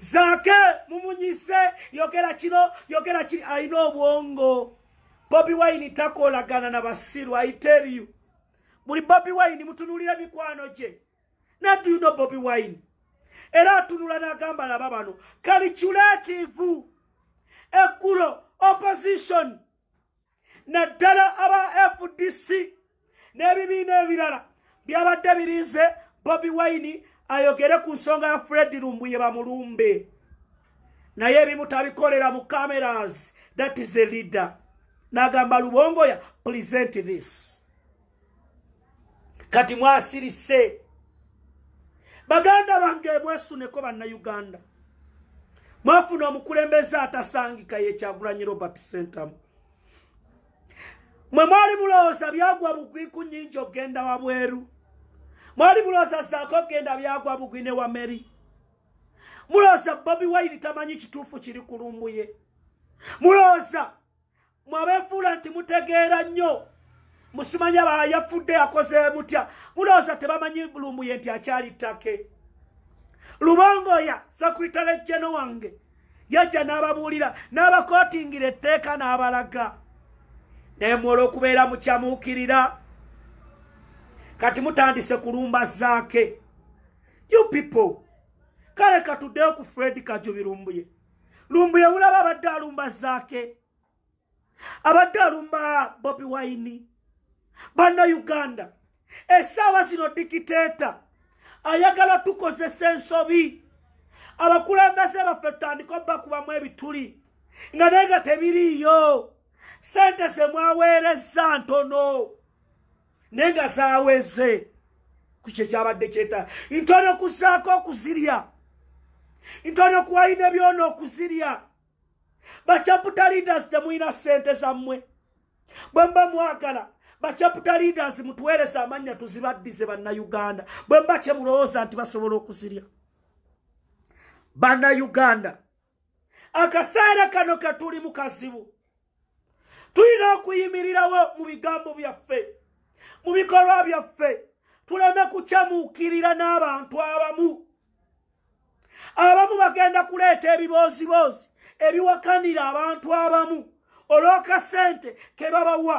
zaake mumunyise yogera kino yogera kiri alina obwongo bobi wine takolagana na basiru i tell you buli bobi wine mutunulira mikwano gye naduyuno bobi wine era atunula n'agamba laba bano kaliculativu ekkulo opposition naddala aba fdc n'ebibiina ebirala byabadde birinze bobi wine ayogere ku nsonga ya fred lumbuye bamulumbe naye ebimu tabikolera mu cameras that is a leader nagamba lubongoya present this kati mwasirise baganda bange mwesuneko bannayuganda mwafuna omukulembeze atasangika yekyagulanyi robert centam mwe mwali mulowooza byagwa bugwi ku nyingi okugenda wabweru mwali mulowooza saako okugenda byagwa bugwi ne wameri mulowooza bobi waini tamanyi kituufu kiri kulumbuye mulowooza mwabefuula nti mutegeera nnyo musimanya bayafudde akoze mutya mulowooza tebamanyi lumbuye nti akyali ttake lubongoya sekuritale jeno wange yajja n'ababuulira n'abakootingira etteeka n'abalaga naye mwola okubeera mukyamuukirira kati mutandise kulumba zaake you people kale katuddeyo ku fred kajubirumbuye lumbuye bulaba abadde alumba zaake abadde alumba bobi wayini banna uganda esaawa zino dikiteeta ayagala tukozesa ensobi abakulembeze baffe tutandika obakubamu ebituli nga naye nga tebiriiyo sente zemwaweereza ntono naye nga zaweze ku kye kyabadde kyeta ntono kusaako okuzirya ntono kuwalina byona okuzirya bacaputa leaders temulina ssente zammwe bwe mba mwagala bacaputa leaders mutuweereza amannya tuzibaddize bannayuganda bwe mba kye mulowooza nti basobola okuzirya bannayuganda akaseera kano ketuli mu kazibu tulina okuyimirirawo mu bigambo byaffe mu bikolwa byaffe tuleme kukyamuukirira n'abantu abamu abamu bagenda kuleeta ebibooziboozi ebiwakanira abantu abamu olw'akasente ke babawa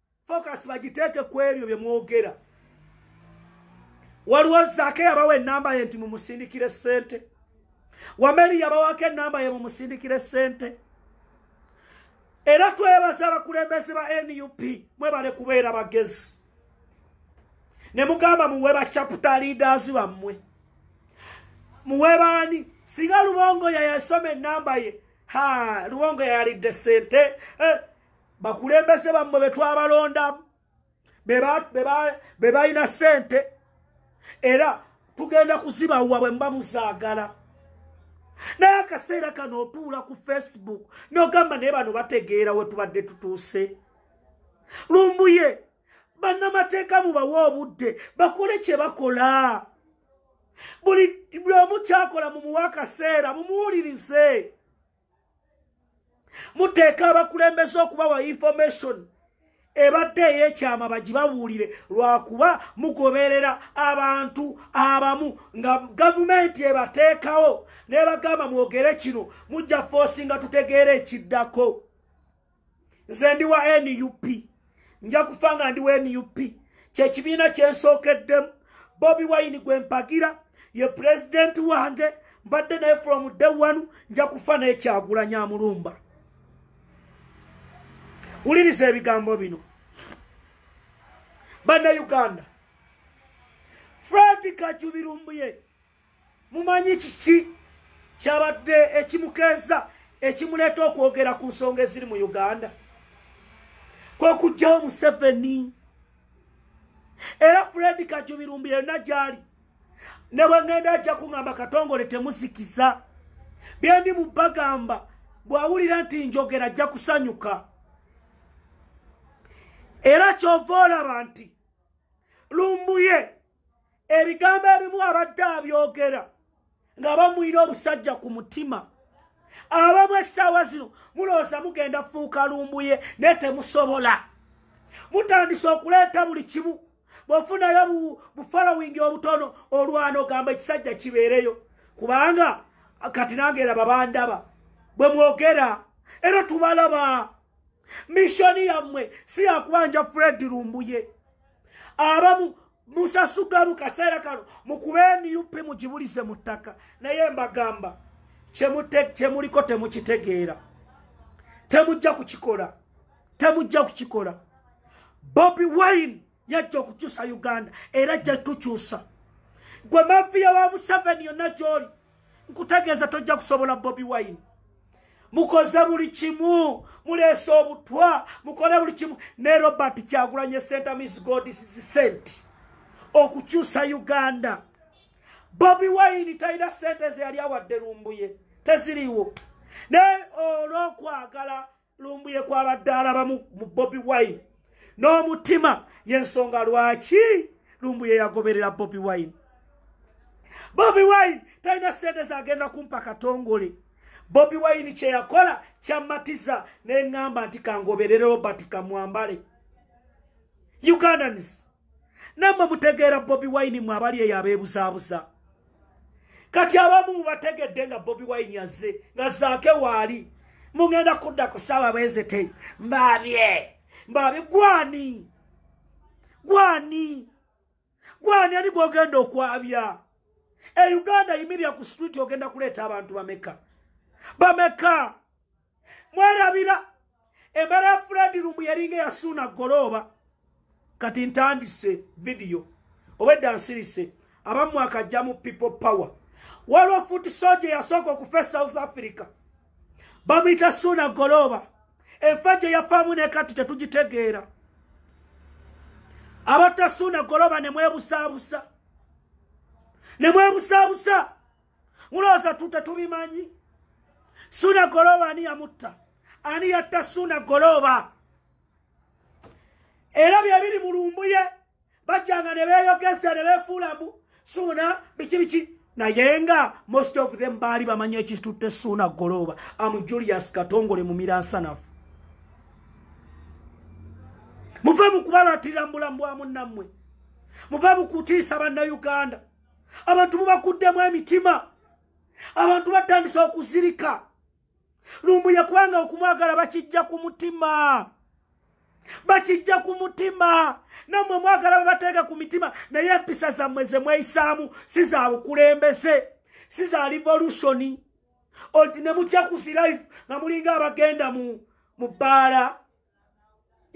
focus bagiteeke ku ebyo bye mwogera waliwo zaake yabawa enamba ye nti mumusindikire ssente wameri yabawako enamba ye mumusindikire ssente era twebaza abakulembeze ba nup mwebale kubeera bagezi ne mugamba muwe bacaputa leaders bammwe muwe baani singa lubongo yayasoma enamba ye ha lubongo yayalidde sente eh, bakulembeze bammwe be twabalondamu be balina ssente era tugenda kuzibawa bwe muba muzaagala naye akaseera kano otuula ku facebook nogamba naye bano bategeera we tubadde tutuuse lumbuye bannamateeka mubawe obudde bakole kye bakola buli omu kyakola mumuwa akaseera mumuwulirize muteeka abakulembeze okubawa information ebadde ey'ekyama bagibabuulire lwakuba mugoberera abantu abamu nga gavumenti ebateekawo nebagamba mwogere kino mujja foosi nga tutegeera ekiddako nze ndi wa nup nja kufa nga ndi wa nup kyekibiina kyensookeddemu bobi wayini gwe mpagira ye pulezidenti wange mbadde naye from day one nja kufa naye kyagulanya amulumba wuliriza ebigambo bino banna uganda fredi kacubirumbuye mumanyi kiki kyabadde ekimukeeza ekimuleeta okwogera ku nsonga eziri mu uganda kwekujjawo museveni era fred kajubirumbi yonna gyali ne bwengenda ajja kuŋamba katongole temusikiza byendi mu bagamba bwawulira nti njogera ajja kusanyuka era kyova olaba nti lumbuye ebigambo ebimu abadde abyogera nga bamwina obusajja ku mutima abamu essaawa zino mulowooza mugenda fuuka lumbuye naye temusobola mutandise okuleeta buli kimu bwofunayo bufolowingi obutono olwana ogamba ekisajja kibeereyo kubanga kati nange era babandaba bwe mwogera era tubalaba mishoni yammwe si yakubanja fred lumbuye abamu musasugamu kaseera kano mukube nup mugibulize mu ttaka naye mbagamba kyemuliko temukitegeera temujja kukikola temujja kukikola bobi wine yajja okukyusa uganda era jja tukyusa gwe mafiya wa museveni yonna gyoli nkutegeeza tojja kusobola bobi wine mukoze buli kimu muleese obutwa mukole buli kimu ne robert kyagulanye center miss godis sent okukyusa uganda bobi wine talina sente zeyali awadde lumbuye teziriwo naye olwokwagala lumbuye kwabadde alaba mu bobi wine n'omutima yensonga lwaki lumbuye yagoberera bobi wine bobi wine talina sente zagenda kumpa katongole bobi wine kyeyakola kyamatiza neŋŋamba nti kangoberere robert kamwambale ugandans namwe mutegeera bobi wine mwe abali eyo abeebuzaabuza kati abamu mubategedde nga bobi wine azze nga zaake waali mugenda kudda ku saawa bwezete mbaabye mbaabye gwani gwani gwani ani gwogenda okwabya e uganda yimirira ku street ogenda kuleeta abantu bameka bameka mwerabira embeera ya fred lumbu yalinga eyasuuna golooba kati ntandise vidiyo obwedda nsirise abamu akajja mu people power waliwo foot soja eyasooka okufa e south africa bamuyita suuna golooba enfa gye yafaamu ne kati tetugitegeera abatta suuna golooba ne mwebusaabusa ne mwebusaabusa mulooza tute tubimanyi suna golooba ani yamutta ani yatta suna golooba era byebiri mu lumbuye bajjanga ne beeyogeza ne beefuulamu suuna biki biki naye nga most of them baali bamanyi ekitutte suuna golooba am julius katongole mu miransanafu muve mu kubalatirira mu bulamu bwa munnammwe muve mu kutiisa bannayuganda abantu mubakuddemu emitima abantu batandise okuzirika lumbuye kubanga okumwagala bakijja ku mutima bakijja ku mutima nammwe mwagala babateeka ku mitima naye empisa zammwe ze mweyisaamu si za bukulembeze si za revolusioni ne mujja ku zilife nga mulinga abagenda mu bbaala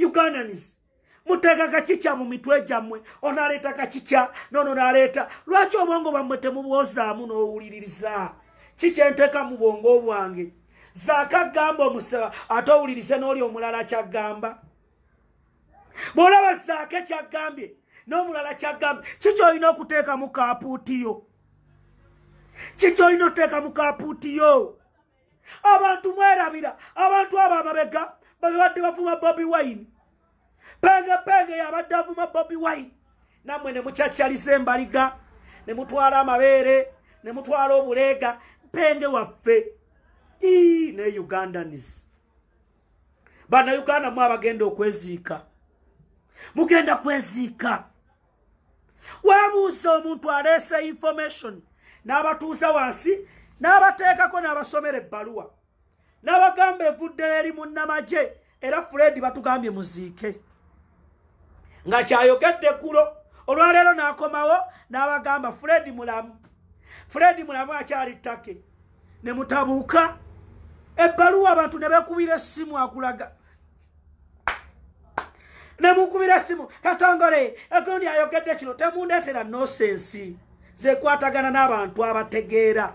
ugandans muteeka kakikya mu mitwe gyammwe onaleeta kakikya nono naleeta lwaki obwongo bwammwe temubwozaamu n'owuliririza kikyenteeka mu bwongo obwange zaaka gamba omusaba ate owulirize n'oli omulala kyaggamba bw'olaba zaaka ekyaggambye n'omulala kyaggambye kikyolina okuteekamu kapuutiyo kikyolina okuteekamu kapuutiyo abantu mwerabira abantu abo ababega babibadde bavuma bobi wine penge penge yabadde avuma bobi wine namwe ne mucaccaliza embaliga ne mutwala amabeere ne mutwala obuleega penge waffe ii ne ugandanis banauganda mu abagenda okweziika mugenda kweziika webuuza omuntu aleese information n'abatuuza wansi n'abateekako n'abasomera ebbaluwa n'abagamba evudde eri munnamagye era fred batugambye muziike nga kyayogedde eggulo olwaleero n'akomawo n'abagamba fred mulamu fred mulamu akyali ttake ne mutabuuka ebbaluwa abantu ne bekubira essimu akulaga nemukubira essimu katongole egundi ayogedde kino temundeetera nosensi zekwatagana n'abantu abategeera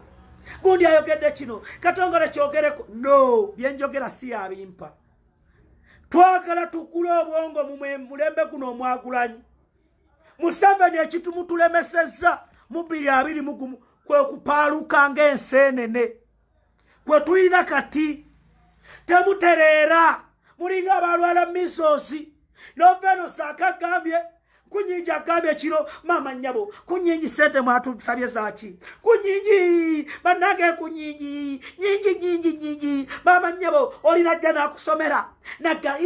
gundi ayogedde kino katongole kyogereko no byenjogera si yabimpa twagala tukule obwongo mumulembe guno omwagulanyi museveni ekitumutulemesezza mu biri abiri mugumu kwekupaaluka ng'enseenene kwe tulina kati temutereera mulinga abalwala misoosi noveno saaka gambye kunyinji agambye kiro maama nyabo kunyinji sente mwatusabye zaki kunyinji banange kunyinji nyinji nyinji nyinji maama nyabo olina jja nakusomera naga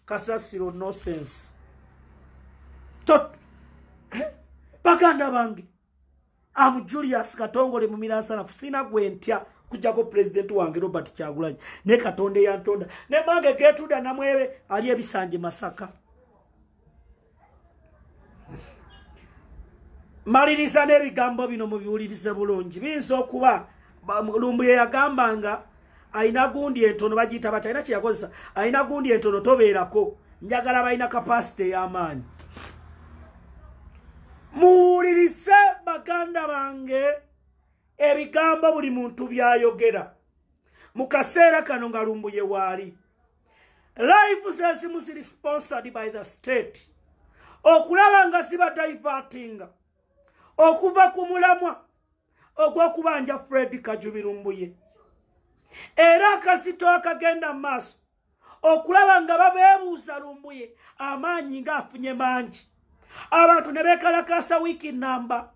kasasiro nosense baganda bange amu julius katongole mumiransanafu sina gwe ntya kujjako pulezidenti wange robert kyagulanyi ne katonda eyantonda ne mange getuda namwebe ali ebisanje masaka maliriza n'ebigambo bino mubiwulirize bulungi biyinza okuba lumbuye yagambanga alina gundi entono bagiyita bati alina kyeyakozesa alina gundi entono tobeerako njagala balina kapasite ey'amaanyi muwulirise baganda bange ebigambo buli muntu byayogera mu kaseera kano nga lumbuye waali live zezimu ziri sponsored by the state okulaba nga zibadayivatinga okuva ku mulamwa ogw'okubanja fred kajubirumbuye era akazito akagenda mu maaso okulaba nga babeebuuza lumbuye amaanyi ng'afunye mangi abantu ne beekalakaasa wiiki nnamba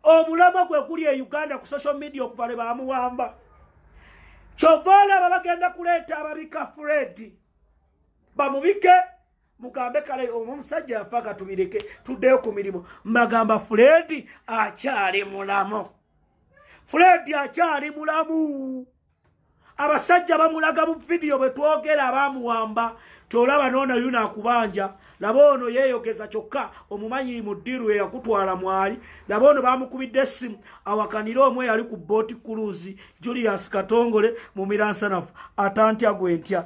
omulama gwe guli e uganda ku social media okuva lwe baamuwamba kyova olaba bagenda kuleeta ababika fred bamubike mugambe kale omusajja yafa katubireke tuddeyo ku mirimu mbagamba fuledi akyali mulamu fuledi akyali mulamu abasajja bamulaga bu vidiyo bwe twogera abamuwamba tolaba noona yuna akubanja laba ono yeeyogeza kyokka omumanyi mu ddiru eyakutwala mwali laba ono bamukubidde essimu awakanire omu eyali ku booti kuluuzi julius katongole mu miransanafu atantya gwe ntya